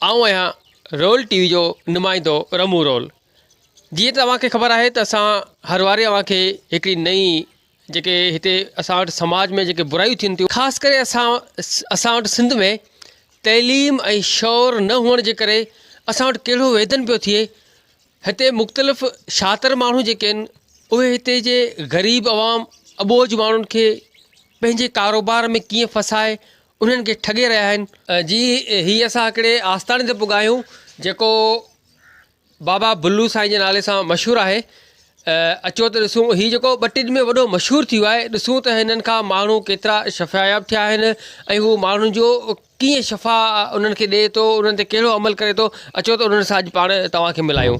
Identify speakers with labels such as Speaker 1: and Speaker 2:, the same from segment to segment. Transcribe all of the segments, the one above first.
Speaker 1: آئون آهيان roll T V جو نمائندو رمون رول جيئن ته اوهان کي خبر آهي ته اسان هر واري اوهان کي هڪڙي نئي جيڪي هتي اسان وٽ سماج ۾ جيڪي برايون ٿين ٿيون خاص ڪري اسان اسان وٽ سنڌ ۾ تعليم ۽ شعور نه هئڻ جي ڪري اسان وٽ ڪهڙو ويڌن پيو ٿئي هتي مختلف شاطر ماڻهو جيڪي آهن اهي هتي جي غريب عوام اٻوجھ ماڻهن کي پنهنجي ڪاروبار ۾ ڪيئن ڦسائي انهن کي ٺڳي رهيا آهن. جي هي اسان هڪڙي آستاڻي تي پڳا آهيون جيڪو بابا بلو سائين جي نالي سان مشهور آهي اچو ته ڏسون هي جيڪو ٻه ٽي ڏينهن ۾ وڏو مشهور ٿي ويو آهي ڏسون ته هنن کان ماڻهو ڪيترا شفاياب ٿيا آهن ۽ هو ماڻهن جو ڪيئن شفا انهن کي ڏي ٿو انهن تي ڪهڙو عمل ڪري ٿو اچو ته انهن سان اڄ پاڻ توهان کي ملايون.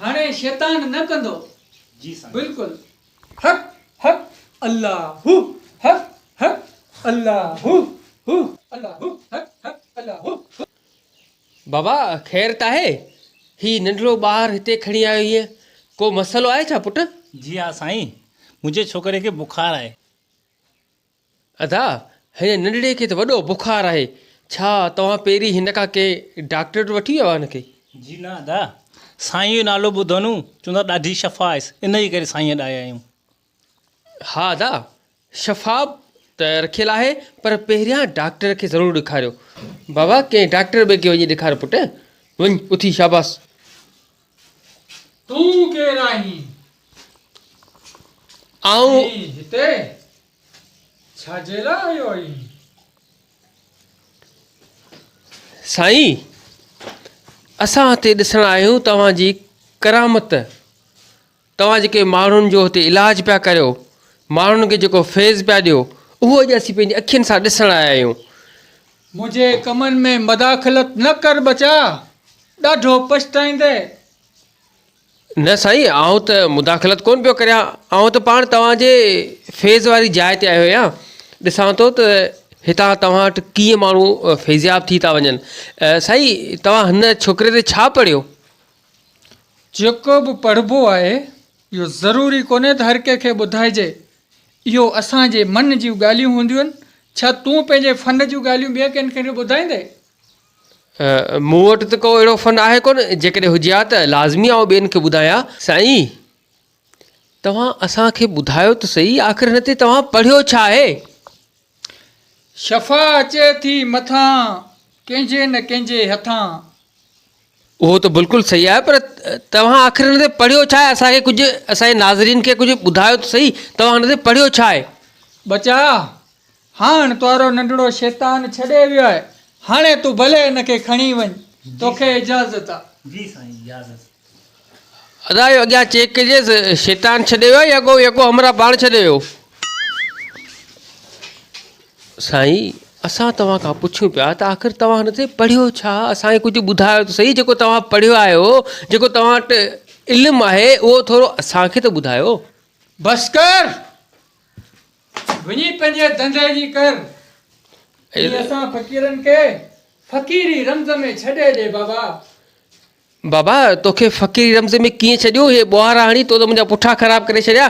Speaker 2: هاڻي شيطان نه ڪندو. جي سائين. بلڪل. حق حق الله هو حق حق الله هو هو الله هو حق حق الله هو
Speaker 1: هو. بابا خير ته آهي؟ هي ننڍڙو ٻار هتي کڻي آيو هينء ڪو مسئلو آهي ڇا پٽ؟ جي ها سائين
Speaker 3: منهنجي ڇوڪري کي بخار آهي.
Speaker 1: ادا، هن ننڍڙي کي ته وڏو بخار آهي، ڇا توهان پيرين هن کان ڪنهن ڊاڪٽر وٽ وٺي ويا هئا هن کي؟ جي نه ادا،
Speaker 3: سائينء جو نالو ٻڌو نو، چون ٿا ڏاڍي شفا آهيس، ان جي ڪري سائينء ڏانهن آيون.
Speaker 1: ها ادا، شفا ته رکيل آهي، پر پهريان ڊاڪٽر کي ضرور ڏيکاريو. بابا، ڪنهن ڊاڪٽر ٻئي کي وڃي ڏيکار پٽ، وڃ اٿي شاباس.
Speaker 2: تون ڪير آهين؟
Speaker 1: آئون ۽ هتي
Speaker 2: ڇا جي لاء آيو آهين؟
Speaker 1: سائين! اسان هتي ڏسڻ آيا آهيون توهان جي ڪرامت. توهان جيڪي ماڻهن جو هتي علاج پيا ڪريو، ماڻهن کي جيڪو فيض پيا ڏيو، اهو اڄ اسين پنهنجي اکين سان ڏسڻ آيا آهيون. منهنجي
Speaker 2: ڪمن ۾ مداخلت نه ڪر ٻچا، ڏاڍو پڇتائيندين.
Speaker 1: نه سائين، آئون ته مداخلت ڪونه پيو ڪريان، آئون ته پاڻ توهان جي فيض واري جاء تي آيو آهيان، ڏسان ٿو ته هتان توهان وٽ ڪيئن ماڻهو فيضياب ٿي ٿا وڃن. سائين، توهان هن ڇوڪري تي ڇا پڙهيو؟
Speaker 2: جيڪو به پڙهبو آهي، اهو ضروري ڪونهي ته هر ڪنهن کي ٻڌائجي. اهو اسان جي من جون ڳالهيون هونديون آهن. ڇا تون پنهنجي فن جون ڳالهيون ٻين ڪن کي ٻڌائيندين؟
Speaker 1: مون وٽ ته ڪو اهڙو فن آهي ڪونه، جيڪڏهن هجي ها ته لازمي آئون ٻين کي ٻڌايان سائين. توهان اسان کي ٻڌايو ته سهي آخر هن تي توهان پڙهيو ڇا آهي؟ شفا
Speaker 2: اچي ٿي مٿان ڪنهن جي نه ڪنهن جي هٿان.
Speaker 1: اهو ته بلڪل سهي آهي پر توهان آخر هن تي پڙهيو ڇا آهي؟ اسان کي ڪجهه اسان جي ناظرين کي ڪجهه ٻڌايو ته سهي توهان هن تي پڙهيو ڇا آهي؟ ٻچا!
Speaker 2: هاڻ تنهارو ننڍڙو شيطان ڇڏي ويو آهي، هاڻي تون ڀلي هن کي کڻي وڃ، توکي اجازت آ. جي
Speaker 3: سائين
Speaker 1: اجازت. ادا اهو اڳيان چيڪ ڪجي ته شيطان ڇڏي ويو آهي يا ڪو يڪو همراهه پاڻ ڇڏي ويو. سائين اسان توهان کان پڇيون پيا ته آخر توهان هن تي پڙهيو ڇا؟ اسان کي ڪجهه ٻڌايو ته سهي جيڪو توهان پڙهيو آهيو، جيڪو توهان وٽ علم آهي اهو ٿورو اسان کي ته ٻڌايو. بس ڪر!
Speaker 2: وڃي پنهنجي ڌنڌي جي ڪر. ۽ اسان فقيرن کي فقيري رمز ۾ ڇڏي ڏي بابا.
Speaker 1: بابا توکي فقيري رمز ۾ ڪيئن ڇڏيون هي ٻوهارا هڻي تو ته منهنجا پٺا خراب ڪري ڇڏيا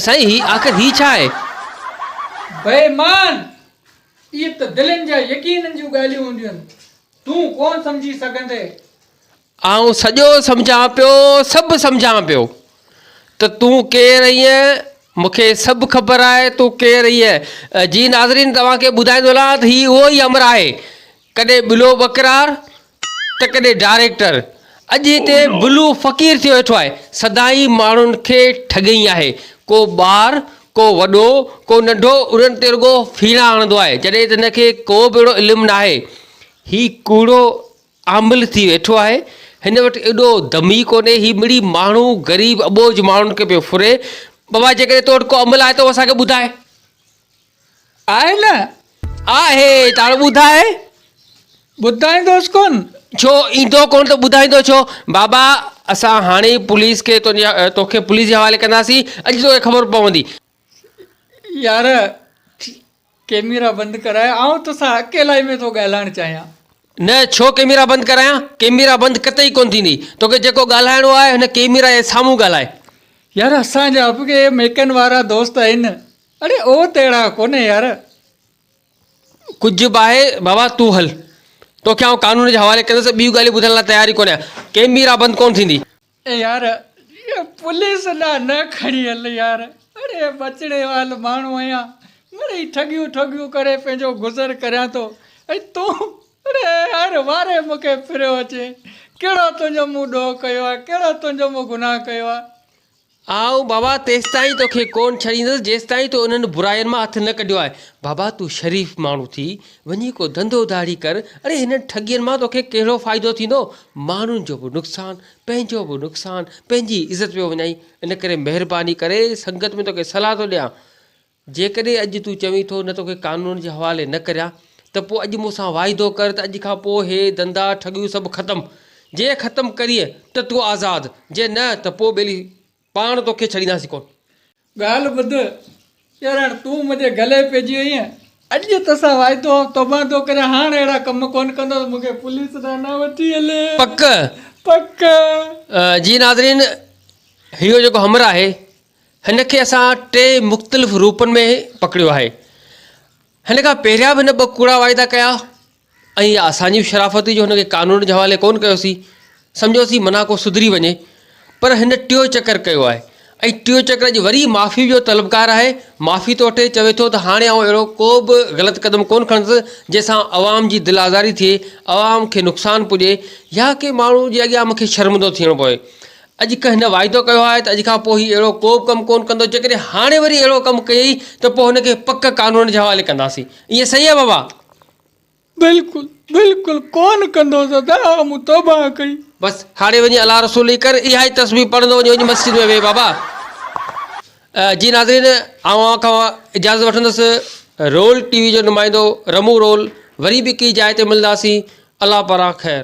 Speaker 1: سائين هي آخر هي ڇا آهي. بيمان!
Speaker 2: اهي ته دلين جا يقينن جون ڳالهيون هونديون تون ڪونه سمجهي سگهندين. آئون
Speaker 1: سڄو سمجهان پيو، سڀ سمجهان پيو ته تون ڪير اهين؟ مون کي سڀ خبر آهي تون ڪير اهين. جي ناظرين توهان کي ٻڌائيندو هلان ته هي اهو ئي امر آهي ڪڏهن بلو ٻڪرار ته ڪڏهن ڊائريڪٽر اڄ هتي بلو فقير ٿيو ويٺو آهي سدائين ماڻهن کي ٺڳئي آهي ڪو ٻار ڪو وڏو ڪو ننڍو انهن تي رڳو ڦيڻا هڻندو آهي جڏهن ته هن کي ڪو به اهڙو علم ناهي هي ڪوڙو عامل ٿي ويٺو آهي هن وٽ ايڏو دم ئي ڪونهي هي مڙئي ماڻهو غريب اٻوجهه ماڻهن کي پيو ڦري بابا جيڪڏهن تو وٽ ڪو عمل آهي ته اهو اسان کي ٻڌاء آهي نه
Speaker 2: آهي
Speaker 1: ته هاڻي ٻڌاء ٻڌائيندوس ڪونه ڇو ايندو ڪونه ته ٻڌائيندو ڇو بابا اسان هاڻي ئي پوليس کي تنهنجي توکي پوليس جي حوالي ڪنداسين اڄ توکي خبر پوندي.
Speaker 2: يار ڪيميرا بند ڪراء آئون توسان اڪيلائي ۾ ٿو ڳالهائڻ چاهيان. نه ڇو
Speaker 1: ڪيميرا بند ڪرايان. ڪيميرا بند قطعي ڪونه ٿيندي. توکي جيڪو ڳالهائڻو آهي هن ڪيميرا جي سامهون ڳالهاء. يار اسان
Speaker 2: جا به ڪي ميڪن وارا دوست آهن اڙي او تهڙا ڪونه يار. ڪجهه
Speaker 1: به آهي بابا تون هل. توکي آئون قانون جي حوالي ڪندس ٻيون ڳالهيون ٻڌڻ لاء تيار ئي ڪونه آهيان. ڪيميرا بند ڪونه ٿيندي. اي يار
Speaker 2: اهي پوليس ڏا نه کڻي هل يار اڙي ٻچڙي وال ماڻهو آهيان مڙئي ٺڳيون ٺوڳيون ڪري پنهنجو گذر ڪريان ٿو ۽ تون اڙي هر واري مون کي ڦريو اچي ڪهڙو تنهنجو مون ڏوهه ڪيو آهي ڪهڙو تنهنجو مون گناهه ڪيو آهي. آئون
Speaker 1: بابا تيستائين توکي ڪونه ڇڏيندس جيستائين تو انهن براين مان هٿ نه ڪڍيو آهي بابا تون شريف ماڻهو ٿي وڃي ڪو ڌنڌو ڌاڙي ڪر اڙي هنن ٺڳين مان توکي ڪهڙو فائدو ٿيندو ماڻهن جو به نقصان پنهنجو به نقصان پنهنجي عزت پيو وڃائين ان ڪري مهرباني ڪري سنگت ۾ توکي صلاح ٿو ڏيان جيڪڏهن اڄ تون چوين ٿو نه توکي قانون جي حوالي نه ڪريان ته پوء اڄ مون سان واعدو ڪر ته اڄ کان پوء هي ڌندا ٺڳيون سڀ ختم جي ختم ڪرين ته تون آزاد جي نه ته پوء ٻيلي پاڻ توکي ڇڏينداسين ڪونه. ڳالهه ٻڌ
Speaker 2: ڄرڻ، تون منهنجي گلي پئجي وئين. اڄ تو سان واعدو آء توبان ٿو ڪريان، هاڻ اهڙا ڪم ڪونه ڪندس، مون کي پوليس ڏانهن نه وٺي هل. پڪ؟
Speaker 1: پڪ.
Speaker 2: جي
Speaker 1: ناظرين، اهو جيڪو همرا آهي، هن کي اسان ٽي مختلف روپن ۾ پڪڙيو آهي. هن کان پهريان به هن ٻه ڪوڙا واعدا ڪيا، ۽ اها اسان جي به شرافت هئي جو هن کي قانون جي حوالي ڪونه ڪيوسين، سمجهيوسين منا ڪو سڌري وڃي، پر هن ٽيون چڪر ڪيو آهي ۽ ٽيون چڪر اڄ وري معافي جو طلبگار آهي، معافي ٿو وٺي، چوي ٿو ته هاڻي آئون اهڙو ڪو به غلط قدم ڪونه کڻندس جنهن سان عوام جي دل آزاري ٿئي، عوام کي نقصان پڄي يا ڪنهن ماڻهو جي اڳيان مون کي شرمندو ٿيڻو پوي، اڄ کان هن واعدو ڪيو آهي ته اڄ کان پوء هي اهڙو ڪو به ڪم ڪونه ڪندو، جيڪڏهن هاڻي وري اهڙو ڪم ڪيئي ته پوء هن کي پڪ قانون جي حوالي ڪنداسين، ائين صحيح آهي بابا؟ بلڪل
Speaker 2: بلڪل ڪون ڪندو دادا اھا مون توبه ڪئي. بس ھاڻي وڃي
Speaker 1: الله رسول ئي ڪر اھائي تسبيح پڙھندو وڃ وڃ مسجد ۾ ويھ بابا. جي ناظرين آئون اوھان کان اجازت وٺندس رول ٽي وي جو نمائندو رمون رول وري به ڪي جاء تي ملنداسين الله پاران خير.